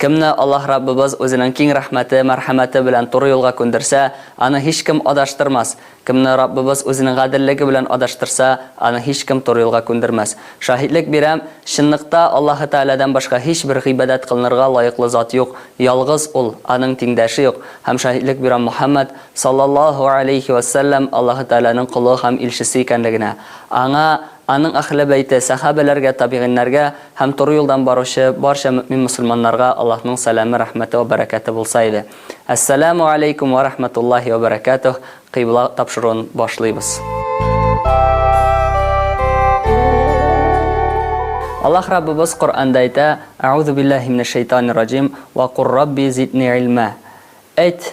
Кемне Аллаһ Раббыбыз Үзенең киң рәхмәте, мәрхәмәте белән туры юлга күндерсә, аны һичкем адаштырмас, кемне Раббыбыз Үзенең гаделлеге белән адаштырса, аны һичкем туры юлга күндермәс. Шаһитлек бирәм, чынлыкта Аллаһы Тәгаләдән башка һичбер гыйбадәт кылынырга лаеклы зат юк, ялгыз Ул, Аның тиңдәше юк, һәм шаһитлек бирәм Мөхәммәд, саллаллаһу галәйһи вә сәлләм, Аллаһы Тәгаләнең колы һәм илчесе икәнлегенә. Аңа, аның әһле бәйте, сәхабәләргә, табигыйньнәргә, Һәм туры юлдан баручы барча мөэмин-мөселманнарга Аллаһның сәламе, рәхмәте вә бәрәкәте булса иде. Әссәләмү аләйкүм вә рәхмәтуллаһи вә бәрәкәтүһ, кыйбла тапшыруын башлыйбыз. Аллаһ Раббыбыз Коръәндә әйтә, Әгъузубиллаһи минәшшәйтанир-раҗим, Вә кур Рабби зидни илмә. Әйт,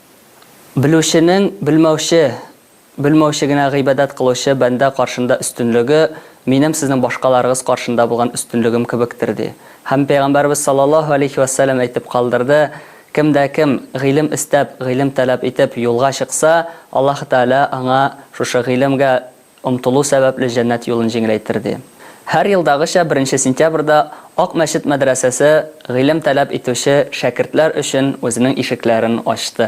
Белүченең белмәүче, белмәүче генә гыйбадәт кылучы бәндә каршында өстенлеге минем сезнең башкаларыгыз каршында булган өстенлегем кебектер, ди. Һәм Пәйгамбәребез саллаллаһу алейһи вә сәлләм әйтеп калдырды, Кем дә кем, гыйлем эстәп, гыйлем таләп итеп, юлга чыкса, Аллаһы Тәгалә аңа шушы гыйлемгә, Омтылу сәбәпле җәннәт юлын җиңеләйтерде. Һәр елдагыча беренче сентябрьдә Ак мәчет мәдрәсәсе гыйлем таләп итүче шәкертләр өчен үзенең ишекләрен ачты.